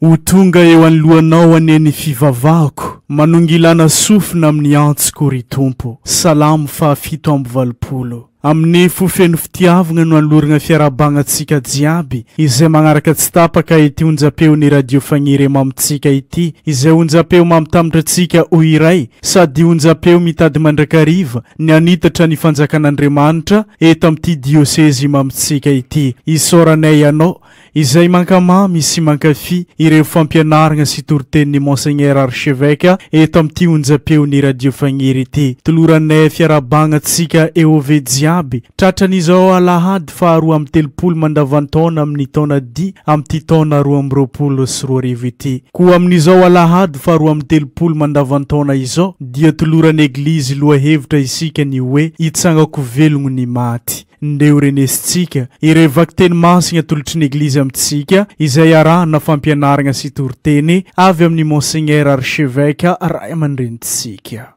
Ho tonga eo anoloanao anie ny fivavahako, manongilana sofina amin'ny antsoko, ry Tompo. Salamo fahafito amby valopolo. Amin'ny fo feno fitiavagna no anoloragna fiarahabagna antsika jiaby izay magnaraka tsy tapaka ity onjam-peon'ny Radio Fagniria mamintsika ity, izay onjam-peo mamitambatra antsika ho iray sady onjam-peo mitady mandrakariva ny hanitatra ny fanjakan'Andriamanitra eto amin'ity diosezy mamintsika ity. Isaoranay Ianao Izay mankamamy sy mankafy ireo fampianaragna sy toritenin'i Monseigneur Archevêque eto amin'ity onjam-peon'ny Radio Fagniry ity. Toloranay fiarahabagna antsika Eôve jiaby, tratran'izao Alahady faha roa amby telopolo mandavan-taona amin'ny taona D amin'ity taona roa amby roapolo sy roa arivo ity. Koa amin'izao Alahady faha roa amby telopolo mandavan-taona izao dia toloran'ny Eglizy lohahevitra isika ny hoe, Hitsangako velogno ny maty. Ndeha horenesintsika ireo vakiteny masina atolotry ny Eglizy amintsika izay arahana fampianaragna sy toriteny avy amin'ny Monseigneur Archevêque Ray aman-drenintsika.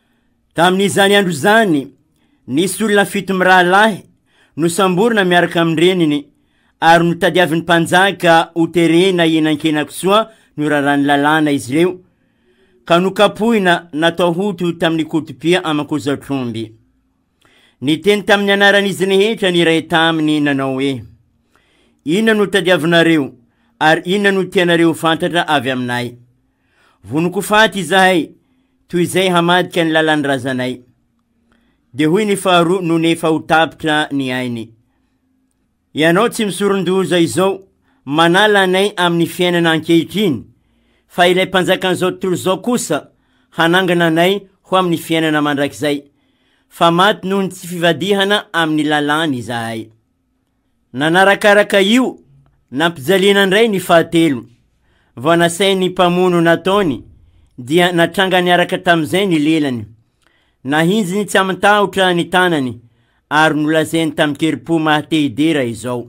Tamin'izany andro izany, nisy olona fito mirahalahy nosamborina miaraka amin-dreniny ary notadiavin'ny mpanjaka hoterena eny Ankenakisoa noraràn'ny lalàna izy ireo ka nokapohina natao hoto tamin'ny kotopia aman-kozatr'omby. Niteny tamin'ny anaran'izy rehetra ny iray taminy nanao hoe, Inona no tadiavinareo, ary inona no tianareo ho fantatra avy aminay? Vonoko faty izahay, toy izay hamadika ny lalan'ny razanay. Dia hoy ny faharoa nony efa ho tapitra ny ainy. Ianao tsy misoron-doza izao manala anay amin'ny fiainana ankehitriny, fa ilay Mpanjakan'izao tontolo izao kosa hanangana anay ho amin'ny fiainana mandrakizay, fa maty noho ny tsy fivadihana amin'ny lalàny izahay. Nanarakaraka io, nampijaliana indray ny fahatelo. Vao nasain'ny mpamono nataony, dia natranga niaraka tamin'izay ny lelany. Nahinjiny tsy aman-tahotra ny tanany, ary nolazainy tamin-kerim-po maha te hidera izao.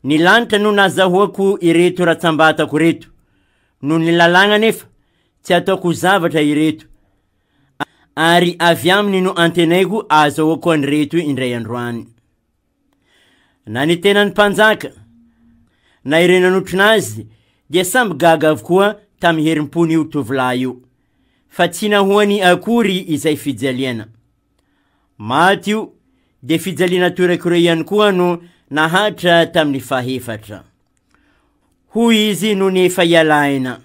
Ny lanitra no nazahoako ireto ratsambatako ireto, noho ny lalàgna anefa tsy ataoko zavatra ireto, ary avy aminy no antenaiko ahazahoako an'ireto indray androany. Nanetena ny mpanjaka, na ireo nanotrona azy dia samby gaga avokoa tamin'ny herim-pon'io tovolahy io, fa tsy nahoany akory izay fijaliana. Maty io, dia fijaliana toirakore ihany koa no nahatra tamin'ny fahefatra. Hoy izy nony efa hiala aina,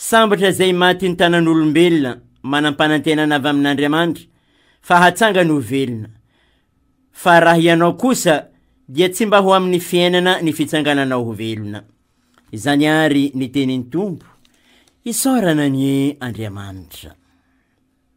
Sambatra izay maty ny tanan'olombelona, manam-panantenana avy amin'Andriamanitra fa hatsangany ho velona. Fa raha ianao kosa dia tsy mba ho amin'ny fiainana ny fitsangananao ho velona. Izany àry ny tenin'ny Tompo, isaorana anie Andriamanitra.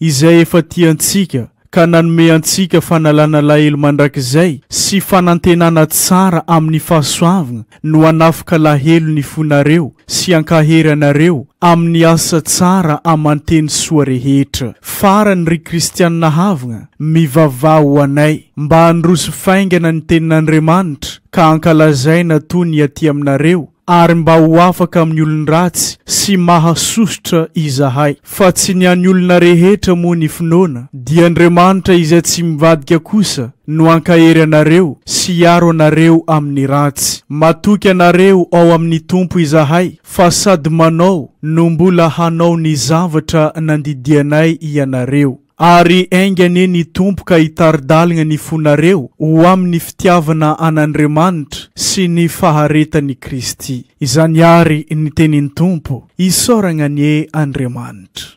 Izay efa tia antsika ka nanome antsika fanalana alahelo mandrakizay sy fanantenana tsara amin'ny fahasoavgna no hanafika alahelo ny fonareo sy ankahery anareo amin'ny asa tsara aman-teny soa rehetra. Farany, ry Kristianina havgna, mivavaha ho anay mba handroso faingana ny Tenin'Andriamanitra ka hankalazaina toa ny aty aminareo ary mba ho afaka amin'ny olon-dratsy sy mahasosotra izahay, fa tsy ny an'ny olona rehetra moa ny finoana, dia Andriamanitra izay tsy mivadika kosa no hankahery anareo sy hiaro anareo amin'ny ratsy. Matoky anareo ao amin'ny Tompo izahay fa sady manao no mbola hanao ny zavatra nandidianay ianareo. Ary enga anie ny Tompo ka hitari-dalgna ny fonareo ho amin'ny fitiavana an'Andriamanitra sy ny faharetan'i Kristy. Izany àry ny tenin'ny Tompo. Isaoragna anie Andriamanitra.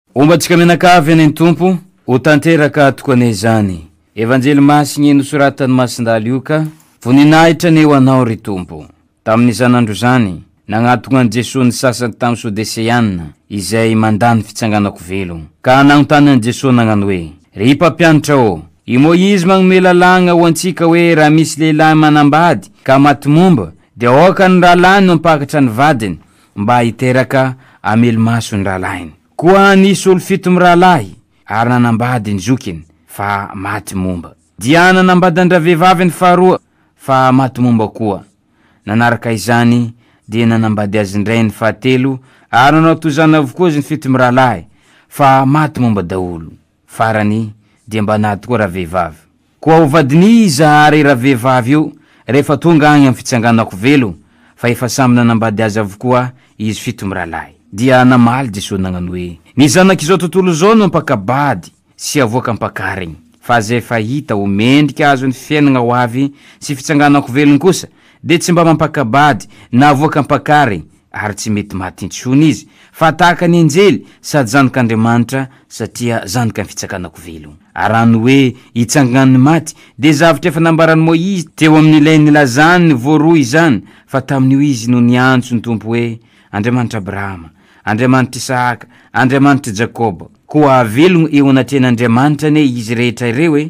Homba antsika mianakavy anie ny Tompo, ho tanteraka tokoa anie izany Evanjely Masiny nosoratan'i Masindahy Lioka, Voninahitra anie ho Anao ry Tompo. Tamin'izany andro izany, nagnatona an'i Jesoa ny sasany tamin'ny Sodeseana izay mandà ny fitsanganako velo, ka nanontany an'i Jesoa nagnano hoe, Ry Mpampianatra ô, i Moizy magnome lalàgna ho antsika hoe raha misy lehilahy manambady ka maty momba, dia aoka ny rahalahiny mampakatra ny vadiny, mba hiteraka hamelo-maso ny rahalahiny. Koa nisy olon-fito mirahalahy ary nanambady ny zokiny fa maty momba. Dia nanambady an-dravehivavy ny faharoa fa maty momba koa. Nanaraka izany dia nanambady azy indray ny fahatelo ary nanao toy izany avokoa izy ny fito mirahalahy fa maty momba daholo. Farany dia mba nady koa ravehivavy. Koa ho vadin'iza ary ravehivavy io rehefa tonga agny am fitsanganako velo fa efa samy nanambady azy avokoa izy fito miralahy. Dia namaly Jesosy nagnano hoe, Ny zanak'izao tontolo izao no mpakabady sy avoaka ampakarigny, fa aza efa hita ho mendrika azo ny fiainagna ho avy sy fitsanganako velony kosa dia tsy mba mampakabady na avoaka ampakarigny ary tsy mety maty intsony izy, fa tahaka ny anjely, sady zanak'Andriamanitra, satria zanakan'ny fitsakanako velona. Ary raha ny hoe hitsangan'ny maty, dia zavatra efa nambaran'i Moizy teo amin'ilay nilazany voaroa izany, fa tamin'io izy no niantso ny Tompo hoe, Andriamanitr'i Abrahama, Andriamanitr'i Isahaka, Andriamanitr'i Jakoba. Koa hahavelogno eo anatrehan'Andriamanitra anie izy rehetra ireo e!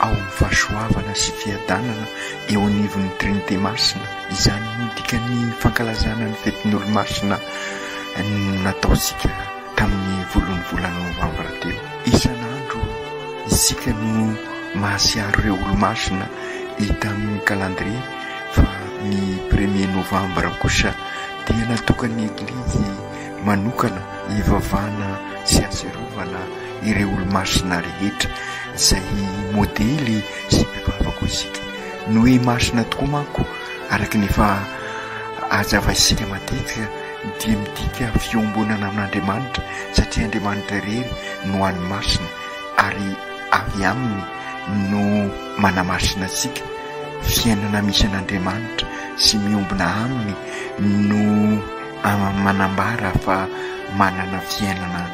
ao amin'ny fahasoavana sy fiadanana eo anivon'ny Trinite Masina. Izany no dikan'ny fankalazana ny fetin'Olomasina nataontsika tamin'ny volon'ny volana Novambra teo. Isan'andro isika no mahatsiaro ireo Olomasina hita amin'ny calendrier fa ny premier Novambra kosa dia natokan'ny Eglizy manokana hivavahana sy hahatsiarovana ireo olo-masina rehetra izay modely sy mpivavaka hoy isika. Ny hoe masina tokoa manko araka ny efa hazavaintsika matetika dia midika fiombonana amin'Andriamanitra satria Andriamanitra irery no any masina ary avy aminy no manamasina antsika, fiainana misy an'Andriamanitra sy miombona aminy no. Manambara fa manana fiainana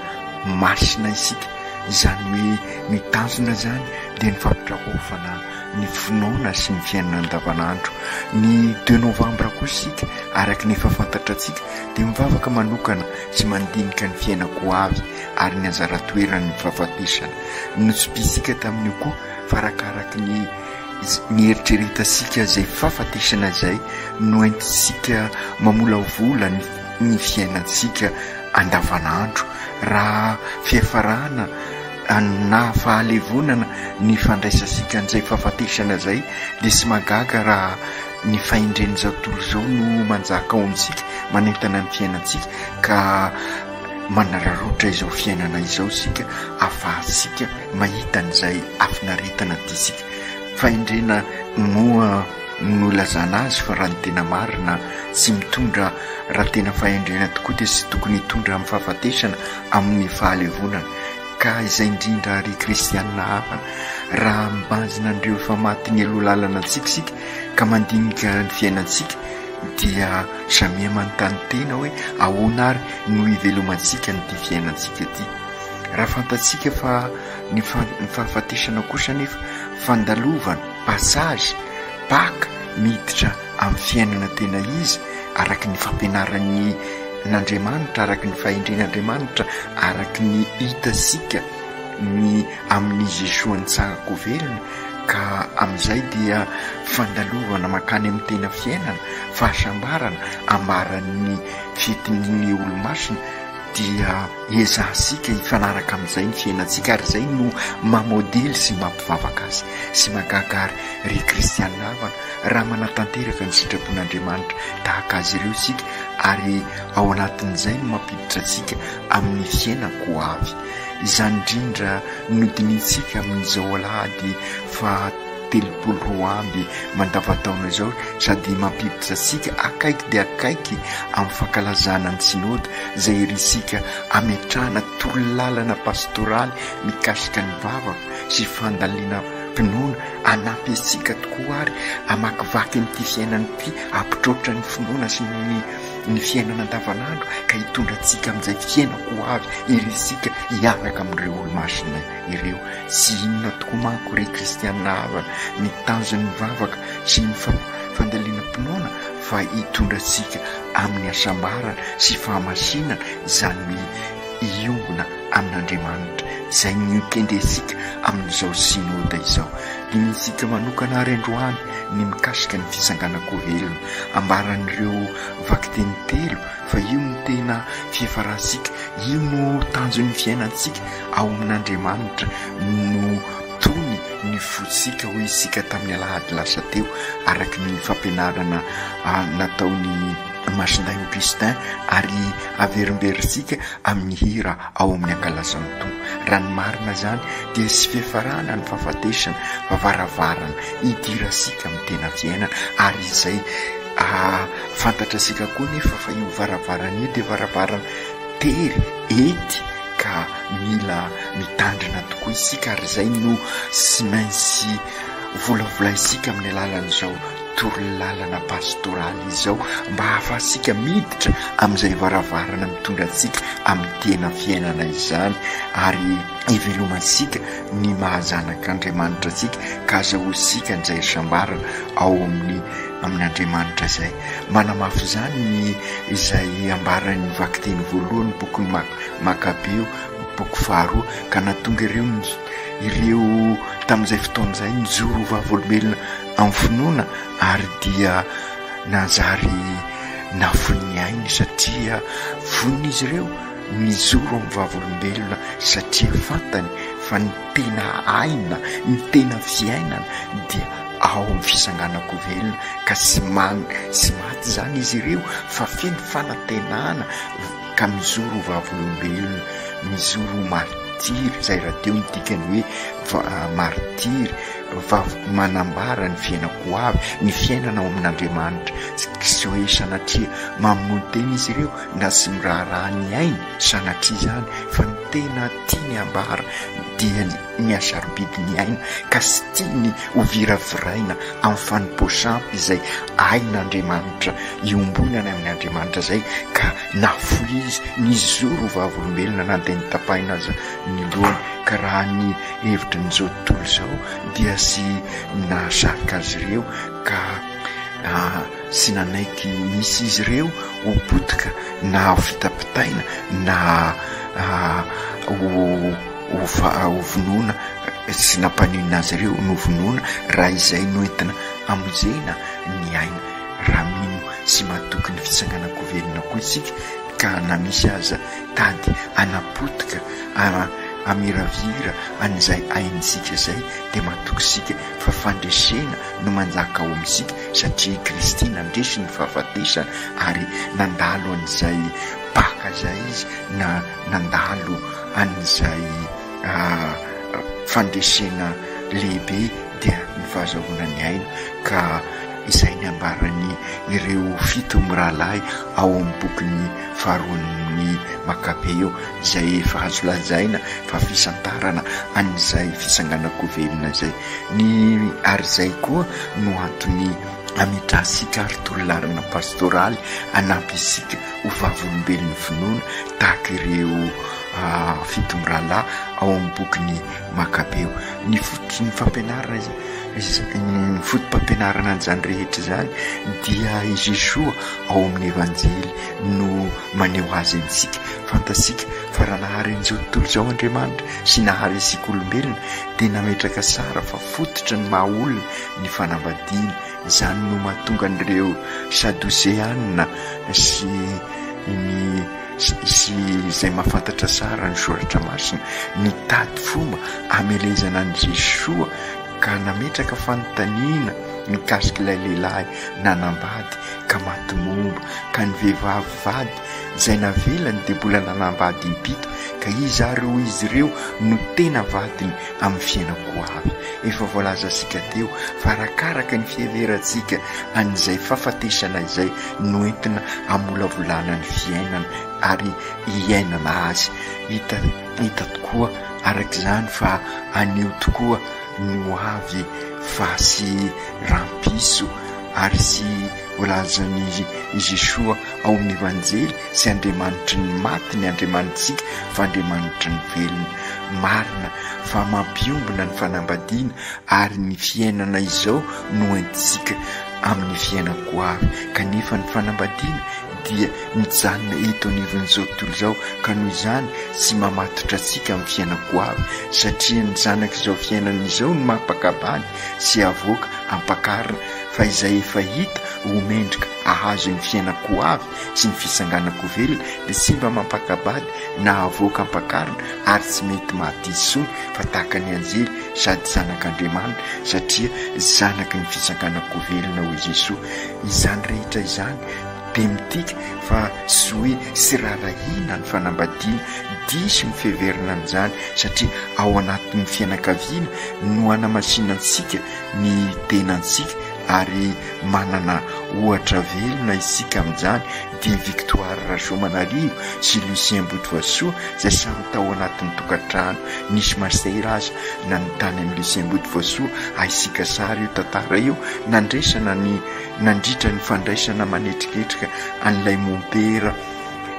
masina isika, izany hoe ny tanjona izany dia ny fampitraofana ny finoana sy ny fiainana andavanandro. Ny deux novambra kosa isika, araka ny efa fantatra antsika, dia mivavaka manokana sy mandinika ny fiainako ho avy ary ny anjara toeran'ny fahafatesana. Notsipihintsika tamin'io koa fa arakaraka ny. Nieritreretantsika izay fahafatesana izay noentintsika mamolavola ny fiainantsika andavanandro raha fiafarana na fahalevonana ny fandraisantsika an'izay fahafatesana izay dia tsy mahagaga raha ny fahendren'izao tontolo izao no manjaka ao amintsika manentana ny fiainantsika ka manararaotra izao fiainana izao isika afahatsika mahita an'izay hafinaretana tiantsika. Fahendrena moa no ilazana azy fa raha ny tena marina tsy mitondra raha tena fahendrena tokoa dia tsy tokony hitondra amin'ny fahafatesana amin'ny fahalevonana. Ka izay indrindra àry kristianina hafa raha mibanjina an'ireo efa maty mialoha lalana antsika isika ka mandinika ny fiainantsika dia Samia manontany tena hoe ahoana ary no hivelomantsika amin'ity fiainantsika ity. Raha fantatsika fa ny fahafatesana kosa anefa fandalovana, passage, Paka, miditra amin'ny fiainana tena izy araka ny fampianaran'ny n'Andriamanitra, araka ny fahendren'Andriamanitra, araka ny hitantsika ny amin'ny Jesoa Nitsangan-ko velona, Ka amin'izay dia fandalovana mankany amin'ny tena fiainana, fahasambarana, ambaran'ny fitin'ny olomasina, dia ezahantsika hifanaraka amin'izay ny fiainantsika ary izay no maha modely sy mampivavaka azy sy mahagaga ary ry kristiana havana raha manatanteraka ny sitrapon'Andriamanitra tahaka azy ireo isika ary ao anatin'izay no mampiditra antsika amin'ny fiainan-ko avy Izany indrindra no dinihintsika amin'izao alahady faha telopolo roa amby mandavantaona izao sady mampiditra antsika akaiky dia akaiky amin'ny fankalazana ny Synode izay irintsika hametrahana torolalana pastoraly mikasika ny vavaka sy fandalina finoana hanampy antsika tokoa àry hamakivaky an'ity fiainana ity hampitroatra ny finoana sy ny ny fiainana andavanandro ka hitondra antsika amin'izay fiainana ho avy ery isika hiaraka amin'ireo olo-masina ireo. Tsy inona tokoa manko ry kristianina havana ny tanjon'ny vavaka sy ny fandalinam-pinoana fa hitondra antsika amin'ny hasambarana sy fahamasinana, izany hoe hiombona amin'Andriamanitra, izay nokendrentsika amin'izao Synode izao. Dinihintsika manokana àry androany ny mikasika ny Fitsanganan-ko velona. Ambaran'ireo vakiteny telo fa io no tena fiafarantsika, io no tanjon'ny fiainantsika ao amin'Andriamanitra no tony ny fontsika, hoy isika tamin'ny alahady lasa teo, araka ny fampianarana nataon'i Masindahy Augustin ary averimberintsika amin'ny hira ao amin'ny Ankalazan'ny Tompo. Raha ny marina izany dia tsy fiafarana ny fahafatesana fa varavarana hidirantsika amin'ny tena fiainana ary izay fantatrasika koa nefa fa io varavarana io dia varavarana tery ety ka mila mitandrina tokoa isika ary izay no tsy maintsy volavolaintsika amin'ny alalan'izao torolalana pastoraly izao mba hahafahantsika miditra amin'izay varavarana mitondra antsika amin'ny tena fiainana izany ary hivelomantsika ny maha zanak'Andriamanitra antsika ka azahoa isika an'izay isambarana ao amin'ny amin' Andriamanitra izay. Manamafy izany ny izay ambaran'ny vakiteny voalohan'ny bokin'ny Mak Makabeo, boko faharoa, ka na tonga ireo ny ireo tamin'izay fotoana izay nijoro ho vavolombelona amin'ny finoana ary dia nanjary nafoin'ny ainy satria vonin'izy ireo Mijoro amin'ny vavolombelona satria fantany fa ny tena aina, ny tena fiainana dia ao amin'ny fisanganako velona ka tsy mamy sy maty izany izy ireo fa feno fanantenana ka mijoro ho vavolombelona, mijoro ho martiry, izay rahateo ny dikany hoe martiry, vav-, manambara ny fiainako ho avy, ny fiainana ao amin'Andriamanitra, tsy hoe sanatria mamono tena izy ireo. na tsy miraharaha ny ainy sanatria izany fa ny tena tiany hambara dia ny mihasarobidy ny aina ka tsy tiany ho viraviraina amin'ny fanompoasam izay ain'Andriamanitra iombonana amin' Andriamanitra izay ka na foy izy nizoro ho vavolombelona na dia notapahina aza ny lohany ka raha ny hevitry ny izao tontolo izao dia tsy nahasarika azy ireo ka sy nanaiky ny misy izy ireo ho potika na ho fitapitaina na ho vonoina sy nampaninona azy ireo novonoina raha izay no entina hamonjena ny aina raha mino sy matoky ny fitsanganan-kovelona koa isika ka na misy aza tady hanapotika hamiravira an'izay aintsika izay dia matoky isika fa fandresena no manjaka ao amintsika satria i Kristy nandresy ny fahafatesa ary nandalo an'izay baka izay izy na nandalo an'izay fandresena lehibe dia ny fahazahoana ny aina ka izay ny ambaran'ny ireo fito mirahalahy ao amin'ny bokin'ny faharoan'ny Makabeo izay efa azo lazaina fa fisantarana an'izay fisanganan-ko velona izay Ny ary izay koa no antony ametrahantsika ary tololalana pastoraly hanampy isika ho vavolombelon'ny finoana tahaka ireo fito mirahalahy ao amin'ny bokin'i Makabeo. Ny fototry ny fampianarana, ny foto-pampianarana an'izany rehetra izany dia i Jesoa ao amin'ny Evanjely no maneho azy amintsika. Fantatsika fa raha nahary an'izao tontolo izao Andriamanitra sy nahary isika olombelona, dia nametraka sara fa fototry ny maha olona ny fanambadiana, izany no mahatonga an'ireo Sadoseana sy ny sy izay mahafantatra tsara ny Soratra Masina nitady fomba hamelezana an'i Jesoa ka nametraka fanontaniana mikasika ilay lehilahy nanambady ka maty momba ka ny vehivavy vady izay navelany dia mbola nanambady impito, ka iza ary hoy izy ireo no tena vadiny amin'ny fiainako ho avy? Efa voalazantsika teo fa arakaraka ny fiheverantsika an'izay fahafatesana izay no entina hamolavolana ny fiainana ary hiainana azy. Hita hita tokoa araka izany fa anio tokoa no avy fa sy rampiso ary sy Voalazan'i Jesoa ao amin'ny Evanjely, Tsy Andriamanitry ny maty ny Andriamanitsika fa Andriamanitry ny velona. Marina fa mampiombona ny fanambadiana ary ny fiainana izao no entintsika amin'ny fiainana ho avy, kanefa ny fanambadiana dia mijanona eto anivon'izao tontolo izao ka noho izany tsy mamatotra antsika amin'ny fiainana ho avy satria ny zanak'izao fiainana izao no mampakabany sy avoaka ampakarina fa izay efa hita ho mendrika ahazo ny fiainan-ko avy sy ny fitsanganan-ko velona dia simba mampaka-bady na avoaka ampakarina ary tsy mety maty intsony fa tahaka ny anjely sady zanak'Andriamanitra satria zanaky ny fitsanganan-ko velona hoy Jesoa izany rehetra izany dia midika fa tsy hoe tsy raharahiana ny fanambadiana. Diso ny fiheverana an'izany satria ao anatin'ny fianakaviana no hanamasinantsika ny tenantsika ary manana ohatra velona isika amin'izany dia Victoire Rasoamanarivo sy Lucien Botovasoa izay samy tao anatin'ny tokantrano nisy masera aza na ny tany amin'i Lucien Botovasoa ahisika sary io tantara io nandraisana ny Nandritra ny fandraisana manetriketrika an'ilay mompera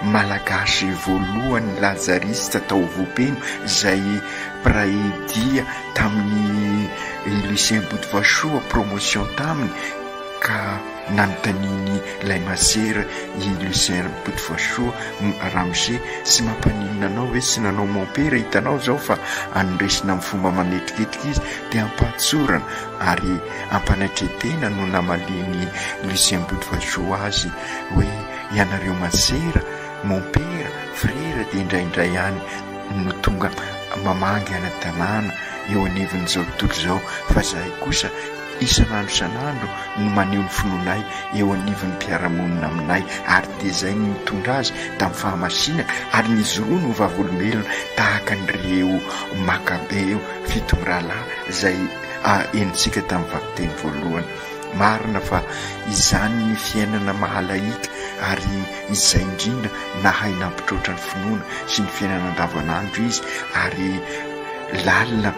malagasy voalohany Lazariste tao Vohipeno izay mpiray dia tamin'ny Lucien Botovasoa promotion taminy ka nanontaniany ilay masera i Lucien Botovasoa ramose sy mampaninona anao ve tsy nanao mompera hitanao izao fa anondresina amin'ny fomba manetriketrika izy dia ampahantsorana ary Ampanatretena no namalian'i Lucien Bodovajoux azy hoe ianareo masera, mompera, frera dia indraindray ihany no tonga mamangy ara-dalàna eo anivon'izao tontolo izao fa izahay kosa isan'andro isan'andro no maneho ny finoanay eo anivon'ny mpiara-monina aminay ary dia izay no nitondra azy tamin'ny fahamasinana ary nijoroany ho vavolombelona tahaka an'ireo Makabeo fito mirahalahy izay henontsika tamin'ny vakiteny voalohany. Marina fa izany ny fiainana maha-lahika ary izay indrindra nahay nampitroatra ny finoana sy ny fiainana andavanandro izy ary lalina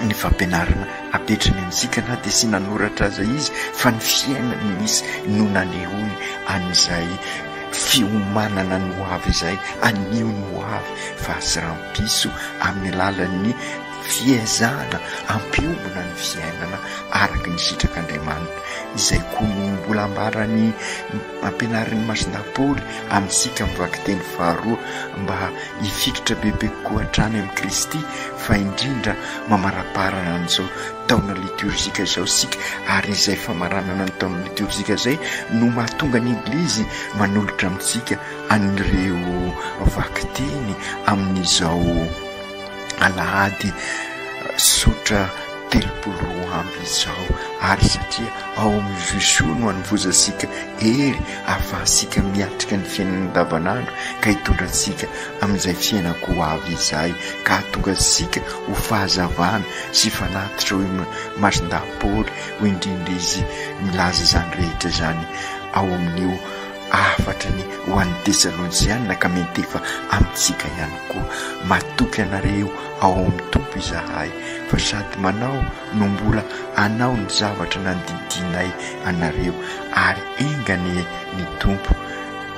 ny fampianarana apetrany amintsika na dia tsy nanoratra aza izy fa ny fiainany misy no nanehoany an'izay fiomanana ny hoavy izay anio ny hoavy fa aseram-piso amin'ny alalan'ny Fiezahana hampiomana ny fiainana araka ny sitrak'Andriamanitra. Izay koa no mbola ambarany, ampianarin'i Masina Paoly amintsika amin'ny vakiteny faharoa, mba hifikitra bebe kokoa hatrany amin'i Kristy, fa indrindra mamaraparana an'izao taona litiorjika izao isika, ary izay famaranana ny taona litiorjika izay no mahatonga ny Eglizy manolotra amintsika an'ireo vakiteny amin'izao. alahady zotra telopolo roa amby izao ary satria ao amin'ny vision no hanovozantsika hery ahafahantsika miatrika ny fiainana andavanandro ka hitondra antsika amin'izay fiainako ho avy izay ka hahatonga antsika ho fahazavana sy fanatitra hoy Masindahy Paoly hoy indrindra izy milaza izany rehetra izany ao amin'io Hafatra ny ho an'ny Tesalonjianina ka miantefa amintsika ihany koa. Matoky anareo ao amin'ny Tompo izahay fa sady manao no mbola hanao ny zavatra nandidianay anareo, ary enga anie ny Tompo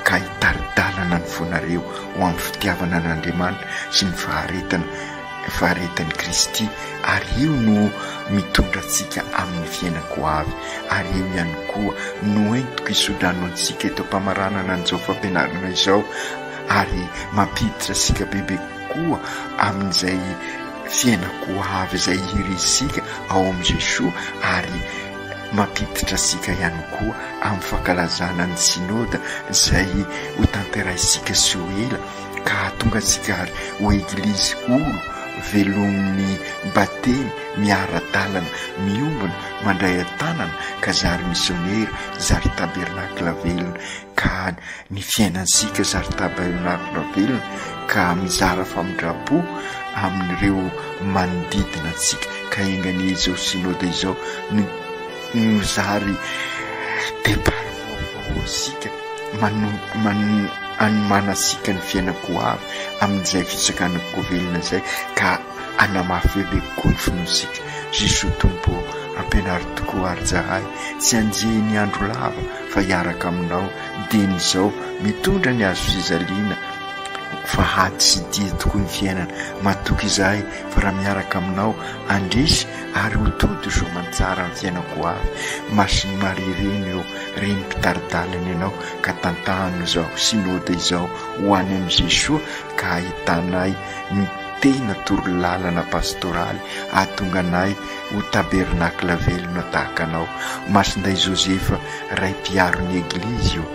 ka hitari-dalana ny fonareo ho amin'ny fitiavana an'Andriamanitra sy ny faharetana. Faharetan'i Kristy, ary io no mitondra antsika amin'ny fiainako ho avy, ary io ihany koa no entiko hisodrano antsika eto am-pamaranana an'izao fampianarana izao, ary mampiditra antsika bebe kokoa amin'izay fiainako ho avy izay hirisika ao amin'i Jesoa, ary mampiditra antsika ihany koa amin'ny fankalazana ny Synoda izay hotanterainsika tsy ho ela. Ka hahatonga antsika àry ho Eglizy olo velomin'ny Batemy miara-dalana, miombona, mandray an-tanana, ka zary misionera, zary tabernakla velona, ka ny fiainantsika zary tabernakla velona, ka mizara famindram-po amin'ireo manodidina antsika, ka enga anie izao Synode izao no Nozary départ vaovao asika manomana asika ny fiainako ho avy amin'izay fisakana ko velona izay ka anamafy be be kokoa ny finoantsika Jesoa Tompo ô ampianaro tokoa ary tsaray tsy anjehy ny andro lava fa hiaraka aminao dieny izao mitondra ny azo fizaliana fa hady sy dia tokoa ny fiainana matoky izahay fa raha miaraka aminao handresy ary ho tody izao manjara ny fiainako ho avy Masin'i Maria ireny ô Reny mpitari-dalana ianao ka tantano izao Synode izao ho any amin'i Jesoa ka hahitanay ny tena toro lalana pastoraly hahatonga anay ho tabernacle velona tahaka anao Masindahy Joseph Ray mpiaro ny Eglizy ô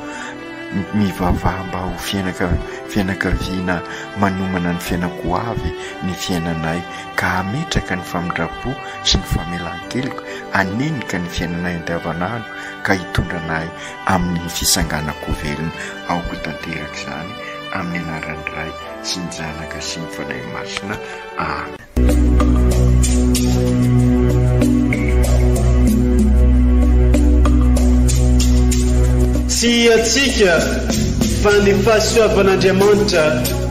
Mivavaha mba ho fianaka fianakaviana manomana ny fiainako ho avy ny fiainanay ka hametraka ny famindram-po sy ny famelan-keloka hanenika ny fiainanay andavanandro ka hitondra anay amin'ny fisanganako velona. Aoka tanteraka izany amin'ny anaran'ny Ray sy ny Zanaka sy ny Fanahy Masina. Amen. Tsy hiatsika fa ny fahasoavan'Andriamanitra.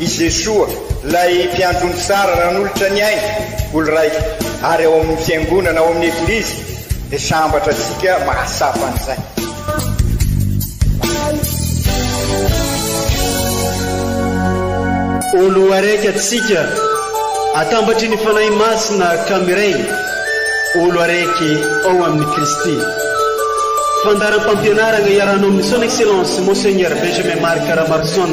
I Jesoa, ilay Mpiandry omby tsara nanolotra ny ainy ho lraika, ary ao amin'ny Fiangonana, ao amin'ny Eglizy, dia sambatra antsika mahatsapa an'izay. Ho loharaiky antsika atambatry ny Fanahy Masina ka miray ho loharaiky ao amin'i Kristy. Fandaharam-pampianarana iarahanao amin'ny Son Excellence Monseigneur Benjamin Marc Ramarson.